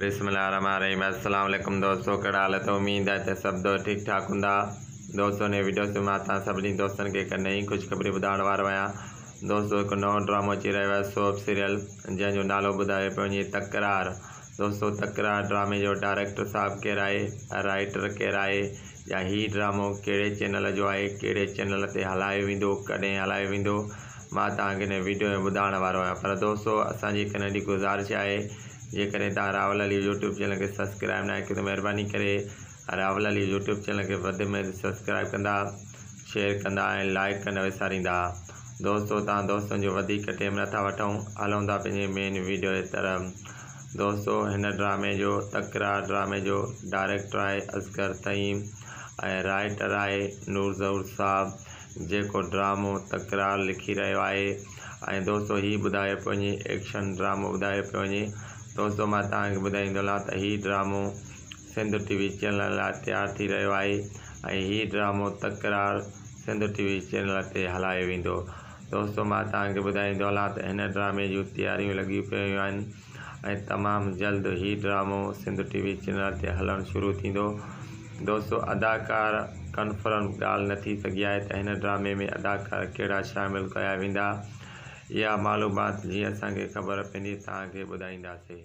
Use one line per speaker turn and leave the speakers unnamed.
بسم الله الرحمن الرحيم السلام عليڪم دوستو ڪهڙا حال اٿو اميد آهي ته سڀ دوست ٺيڪ ٺاڪ هوندا دوستو هن وڊيو سي مان توهان سڀني دوستن کي هڪ نئين خوشخبري ٻڌائڻ وارو آهيان دوستو هڪ نئون ڊرامو اچي رهيو آهي سوپ سيريل جنهن جو نالو ٻڌايو پيو وڃي تڪرار دوستو تڪرار ڊرامي جو ڊائريڪٽر صاحب ڪير آهي رائٽر ڪير آهي يا هي ڊرامو ڪهڙي چينل جو آهي ڪهڙي چينل تي هلايو ويندو ڪڏهن هلايو ويندو مان توهان کي هن ويڊيو ۾ ٻڌائڻ وارو آهيان پر دوستو اسان جي هڪ ننڍي گذارش آهي جيڪڏهن توهان راهول علي يوٽيوب چينل کي سبسڪرائب ناهي ڪيو ته مهرباني ڪري راهول علي يوٽيوب چينل کي وڌ ۾ وڌ سبسڪرائب ڪندا شيئر ڪندا ۽ لائڪ ڪن وساريندا دوستو توهان دوستن جو وڌيڪ ٽيم نٿا وٺون هلون ٿا پنهنجي مين ويڊيو جي طرف دوستو هن ڊرامي جو تڪرار ڊرامي جو ڊائريڪٽر آهي اصغر طيم ۽ رائيٽر آهي نور ظهور صاحب جيڪو ڊرامو تڪرار لکي رهيو آهي ۽ دوستو هي ٻڌايو پيو وڃي ايڪشن ڊرامو ٻڌايو پيو وڃي دوستو مان توهان کي ٻڌائيندو هلان ته هي ڊرامو سنڌ ٽي وي چينل لاء تيار ٿي رهيو آهي ۽ هي ڊرامو Takrar Sindh TV channel تي هلايو ويندو دوستو مان توهان کي ٻڌائين ٿو هلان ته هن ڊرامي جون تياريون لڳيون پيون آهن ۽ تمام جلد هي ڊرامو سنڌ ٽي وي چينل تي هلڻ شروع ٿيندو دوستو اداڪار ڪنفرم ڳالهه نه ٿي سگهي آهي ته هن ڊرامي ۾ اداڪار ڪهڙا شامل ڪيا ويندا اها معلومات جيئن اسان کي خبر پيندي توهان کي ٻڌائينداسين.